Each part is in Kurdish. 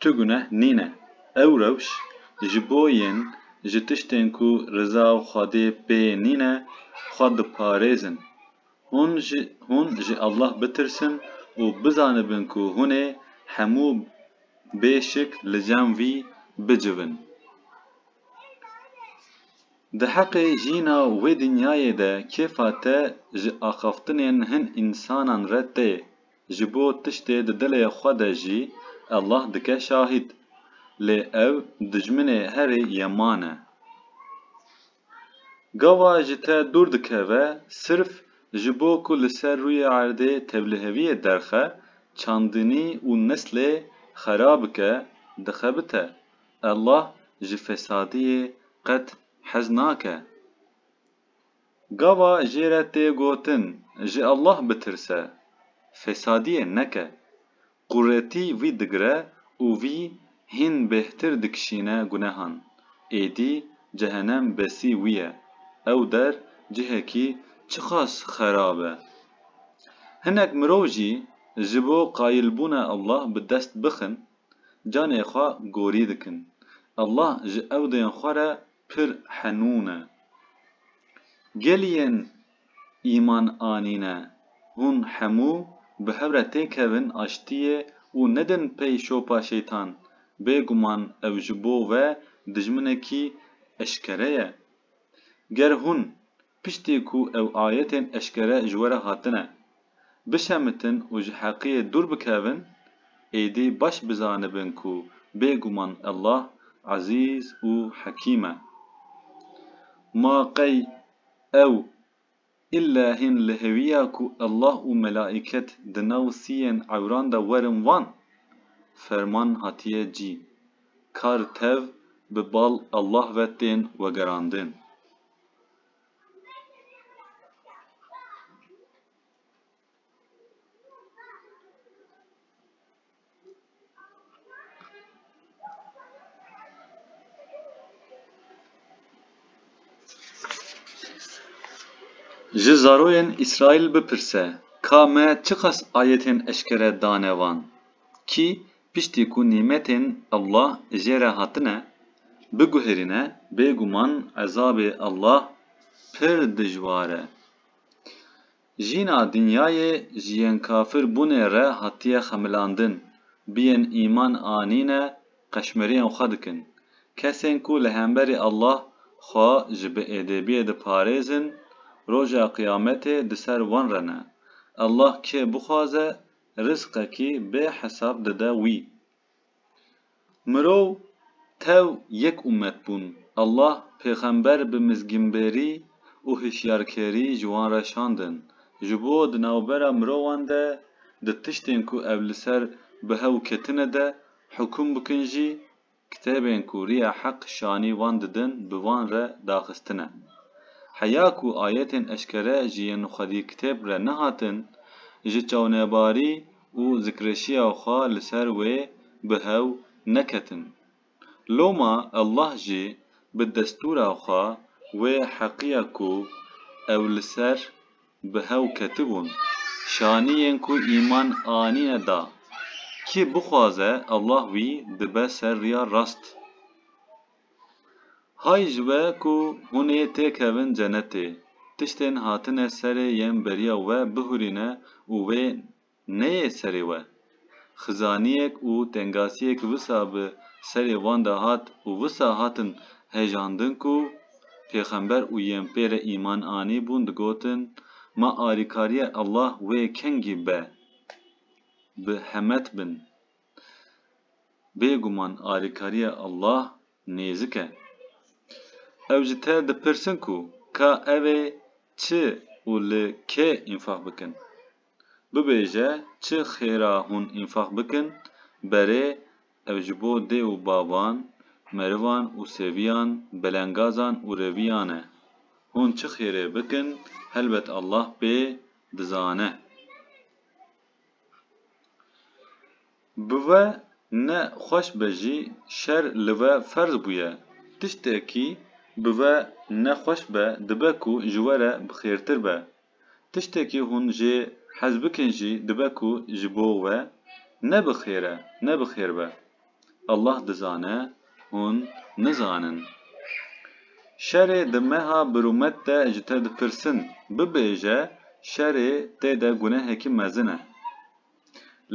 Tu guneh nîne. Ew rewş ji bo yên ji tiştên ku riza û Xwedê pê nîne xwe diparêzin. Hûn ji hûn ji Allah bitirsin û bizanibin ku hûn ê hemû bê şik li cem wî bicivin. Diheqê jîna wê dinyayê de kêfa te ji axaftinên hin însanan re tê. Ji bo tiştê di dilê xwe de jî Allah dike şahîd. Lê ew dijminê herî yeman e. Gava ji te dûr dikeve sirf ji bo ku li ser rûyê erdê tevliheviyê derxe, çandinî û neslê xera bike, dixebite. Allah ji fesadiyê qet hez nake. Gava jê re tê gotin ji Allah bitirse, fesadiyê neke. Quretî vî digire û vî hîn bêhtir dikişîne gunehan. Êdî cehenem besî wî ye. Ew der cihekî çiqas xerab e. Hinek mirov jî ji bo qayilbûna Allah bi dest bixin, canê xwe gorî dikin. Allah ji ewdên xwe re pir henûn e. Gel yên îman anîne, hûn hemû bi hev re têkevin aştiyê û nedin pey şopa şeytan, bêguman ew ji bo we dijminekî eşkere ye. Ger hûn Piştî ku ew ayetên eşkere ji we re hatine, bişemitin û ji heqiyê dûr bikevin, êdî baş bizanibin ku bêguman Allah Ezîz û Hekîm e. Ma qey ew îlle hîn li hêwiya ku Allah û melaîket di nav siyên ewran de werin van? Ferman hatiye cî, kar tev bi bal Allah ve tên wegerandin. Ji zaroyên Îsraîl bipirse, ka me çiqas ayetên eşkere dane wan? Kî Piştî ku nîmetên Allah jê re hatine biguherîne bêguman ezabê Allah pir dijwar e. Jîna dinyayê ji yên kafir bûnê re hatiye xemilandin, bi yên îman anîne qeşmeriyên xwe dikin. Kesên ku li hemberî Allah xwe ji bi êdêbiyê diparêzin, roja qiyametê di ser wan re ne. Allah kê bixwaze rizqekî bê hesab dide wî. Mirov tev yek ummet bûn. Allah pêxember bi mizgînbêrî û hişyarkêrî ji wan re şandin. Ji bo di navbera mirovan de di tiştên ku ev li ser bi hew ketine de hukûm bikin jî Kitêbên ku riya heq şanî wan didin bi wan re daxistine. Heya ku ayetên eşkere ji yên xwedî kitêb re nehatin, ji çawnebarî û zikreşiya xwe li ser wê bi hew neketin. Loma Allah jî bi destûra xwe wê heqiya ku ew li ser. bi hew ketibûn, şaniyên ku îman anîne da. Kî bixwaze Allah wî dibe ser riya rast. Hay ji we ku hûn ê têkevin cenetê, tiştên hatine serê yên beriya we bihurîne û wê neyê serê we. Xizaniyek û tengasiyek wisa bi serê wan de hat û wisa hatin hejandin ku pêxember û yên pê re îman anîbûn digotin, Ma alîkariya Allah wê kengî be bi hemet bin. Bêguman alîkariya Allah nêzik e. Ew ji te dipirsin ku ka ev ê çi û li kê înfaq bikin? Bibêje çi xêra hûn înfaq bikin, berê ev ji bo dê û bavan, merivan û seviyan, belengazan û reviyan e. Hûn çi xêrê bikin, helbet Allah pê dizane. Bi ve ne xweş be jî şer li ve ferz bûye. Tiştekî bi ve ne xweş be dibe ku ji we re bi xêrtir be. Tiştekî hûn jê hez bikin jî dibe ku ji bo we ne bi xêr e, ne bi xêr be. Allah dizane hûn nizanin. Şerê di meha bir û met de ji te dipirsin, bibêje şerê tê de gunehekî mezin e.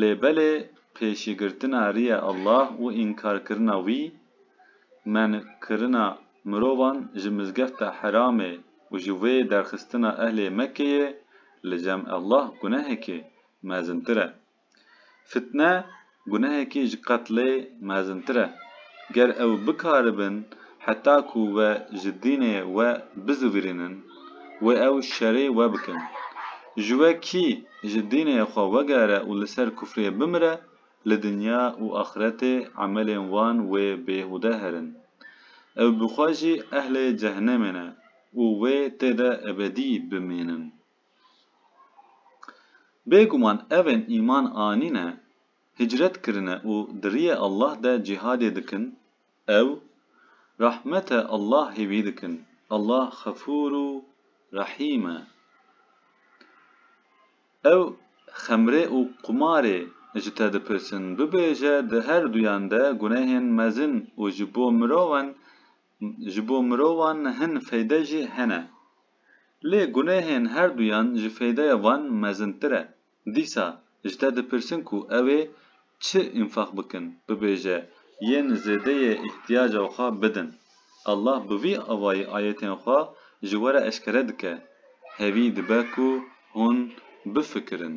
Lê belê pêşîgirtina rîya Allah û înkarkirina wî, menkirina mirovan ji mizgefta Hiramê û ji wê derxistina ehlê Mekkeyê li cem Allah gunehekî mezintir e. Fitne gunehekî ji qetlê mezintir e. Ger ew bikaribin heta ku we ji dînê we bizivîrînin, wê ew şerê we bikin. Ji we kî ji dînê xwe wegere û li ser kufrê bimire, li dinya û axiretê emelên wan wê bêhude herin. Ew bi xwe jî ehlê cehenemê ne û wê tê de ebedî bimînin. Bêguman evên îman anîne, hicret kirine û di riyê Allah de cîhadê dikin, Ew rehmete Allahê wî dikin. Allah xefûr û rehîm e. Ew xemrê û qumarê ji te dipirsin. Bibêje di her duyan de gunehên mezin û ji bo mirovan ji bo mirovan hin feyde jî hene. Lê gunehên her duyan ji feydeya van mezintir e. Dîsa ji te dipirsin ku ew ê çi înfaq bikin, bibêje, Yên zêdeyê îhtiyaca xwe bidin. Allah bi vî avayî ayetên xwe ji we re eşkere dike, hevî dibe ku hûn bifikirin.